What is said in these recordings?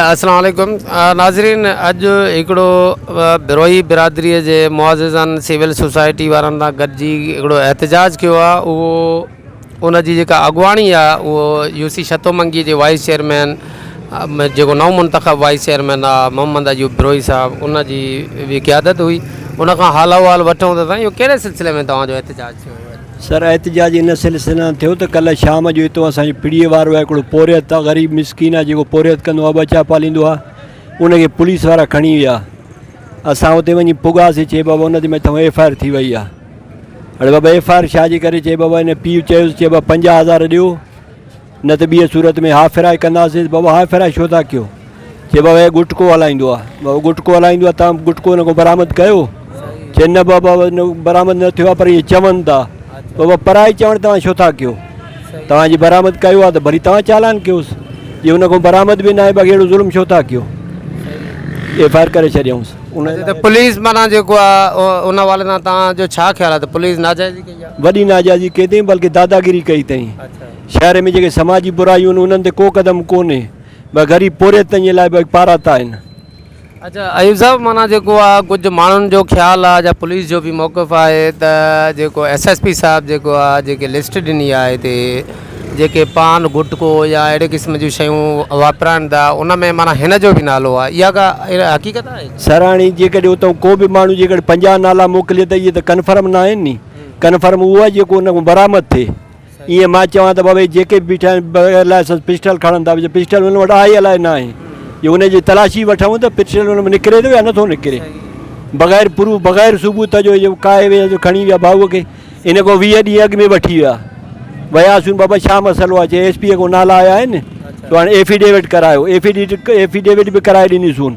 السلام عليڪم ناظرين اڄ هڪڙو بروهي برادري جي معززن سول سوسائٽي وارن سان گڏجي هڪڙو احتجاج ڪيو آ اهو ان جي جيڪا اڳواڻي آ اهو يو سي شتو منگي جي وائيس چيئرمين جيڪو نو منتخب وائيس چيئرمين آ محمد ايوب بروهي صاحب ان جي به قيادت هئي ان کان حال احوال وٺون ته سائين اهو ڪهڙي سلسلي ۾ توهان جو احتجاج ٿيو سر احتجاج ان سلسلي سان ٿيو ته ڪلهه شام جو اتو اسان جي پڙي وارو آهي هڪڙو پورهيت آهي غريب مسڪين آهي جيڪو پورهيت ڪندو آهي ٻه چار پاليندو آهي ان کي پوليس وارا کڻي ويا اسان اتي وڃي پڳاسي چئي بابا ان تي مٿان ايف آئي آر ٿي وئي آهي اڙي بابا ايف آئي آر ڇا جي ڪري چئي بابا ان پيء چيو چئي بابا پنجاهه هزار ڏيو نه ته ٻيء صورت ۾ ها ڦيرائي ڪنداسينس، بابا ها ڦيرائي ڇو ٿا ڪيو؟ چي بابا هي گٽڪو هلائيندو آ، بابا گٽڪو هلائيندو آ تان گٽڪو هن کان برآمد ڪيو؟ چي نه بابا برآمد نه ٿيو آ پر اهي چون ٿا، بابا پرائي چوڻ توهان ڇو ٿا ڪيو؟ توهان جي برآمد ڪيو آ ته وري توهان چالان ڪيوس، جي هن کان برآمد به ناهي باقي اهڙو ظلم ڇو ٿا ڪيو؟ ايف آء آر ڪري ڇڏيائونس. ته پوليس معنيٰ جيڪو آ ان حوالي سان توهان جو ڇا خيال آ ته پوليس ناجائزي ڪئي آ؟ وڏي ناجائزي ڪئي تائين بلڪه داداگيري ڪئي تائين. شهر ۾ جيڪي سماجي برايون آهن انهن تي ڪو قدم ڪونهي بس غريب پورهيت تائين لاء به پاراتا آهن. اچا ايوب صاحب معنيٰ جيڪو آ ڪجهه ماڻهن جو خيال آ جا پوليس جو به موقف آهي ته جيڪو ايس ايس پي صاحب جيڪو آ جيڪي لسٽ ڏني آ هتي جيڪي پان گٽڪو يا اهڙي قسم جون شيون واپرائن ٿا ان ۾ معنيٰ هن جو به نالو آ اها ڪا حقيقت آهي؟ سر هاڻي جيڪڏهن اتان ڪو به ماڻهو جيڪڏهن پنجاهه نالا موڪلي ته اهي ته ڪنفرم ناهن ني ڪنفرم اهو آ جيڪو ان کان برآمد ٿئي ايئن مان چوان ته بابا هي جيڪي به بيٺا آهن بغير لائسنس پسٽل کڻن ٿا پيا پسٽل هن وٽ آهي الائي نه آهي جي ان جي تلاشي وٺون ته پسٽل هن ۾ نڪري ٿو يا نه ٿو نڪري بغير پروف بغير ثبوت جو جو ڪاهي ويا جو کڻي ويا ڀائو کي ان کان ويهه ڏينهن اڳ ۾ وٺي ويا وياسون بابا ڇا مسئلو آهي چي ايس پي کان نالا آيا آهن تو هاڻي ايفيڊيوٽ ڪرايو ايفيڊيوٽ ايفيڊيوٽ به ڪرائي ڏنيسون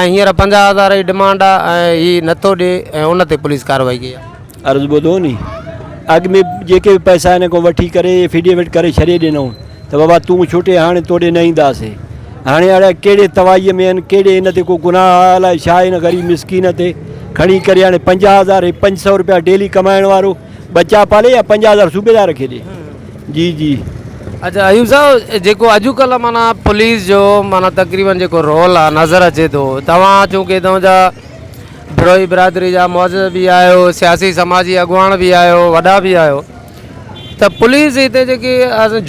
۽ هينئر پنجاهه هزار جي ڊمانڊ آ ۽ هي نٿو ڏي ۽ ان تي پوليس ڪارروائي ڪئي آ. عرض ٻڌو ني اڳ ۾ جيڪي به پئسا هن کان وٺي ڪري افيڊيوٽ ڪري ڇڏي ڏنائون ته بابا تون ڇٽي هاڻي توڏي نه اينداسي هاڻي اڙي ڪهڙي توائي ۾ آهن ڪهڙي ان تي ڪو گناهه آ الائي ڇا ان غريب مسڪين تي کڻي ڪري هاڻي پنجاهه هزار هي پنج سئو روپيا ڊيلي ڪمائڻ وارو ٻچا پالي يا پنجاهه هزار صوبيدار کي ڏي جي جي. اچا ايوب صاحب جيڪو اڄ ڪلهه معنيٰ پوليس جو معنيٰ تقريبن جيڪو رول آ نظر اچي ٿو توهان چونڪه اتان جا بروهي برادري جا معزز به آهيو سياسي سماجي اڳواڻ به آهيو وڏا به آهيو ته پوليس هتي جيڪي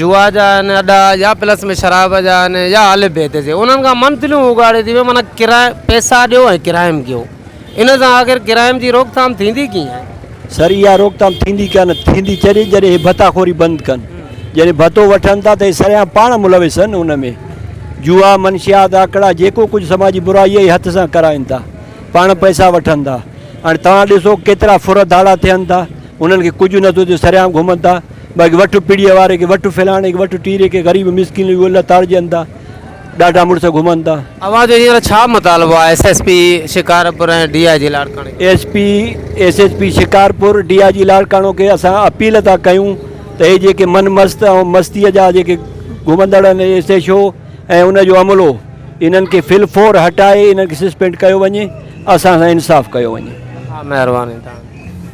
جوا جا آهن اڏا يا پلس ۾ شراب جا آهن يا الف بي هتي جي انهن کان منٿليون اگهاڙي ٿي معنيٰ ڪرائم پيسا ڏيو ۽ ڪرائم ڪيو ان سان آخر ڪرائيم جي روڪٿام ٿيندي ڪيئن؟ سر اها روڪٿام ٿيندي ڪانه ٿيندي تڏهن جڏهن هي ڀتا خوري بند ڪن جڏهن ڀتو وٺن ٿا ته هي سريان پاڻ ملوث آهن ان ۾ جوا منشيات آڪڙا جيڪو ڪجهه سماجي برائي اهي هٿ سان ڪرائين ٿا پاڻ پئسا وٺن ٿا هاڻي توهان ڏسو ڪيترا ڦر ڌاڙا ٿين ٿا انهن کي ڪجهه نه ٿو ٿئي سريان گهمن ٿا باقي وٺ پڙيء واري کي وٺ فلاڻي کي وٺ ٽيري کي غريب مسڪين اهي لتاڙجن ٿا ڏاڍا مڙس گهمن ٿا. اوهان جو هينئر ڇا مطالبو آهي S S P Shikarpur ۽ D I G لاڙڪاڻي کي؟ S P S S P Shikarpur D I G Larkana کي اسان اپيل ٿا ڪيون ته هي جيڪي من مست ۽ مستي جا جيڪي گهمندڙ آهن ايس ايڇ او ۽ ان جو عملو انهن کي في الفور هٽائي انهن کي سسپينڊ ڪيو وڃي اسان سان انصاف ڪيو وڃي. ها مهرباني تهان جي.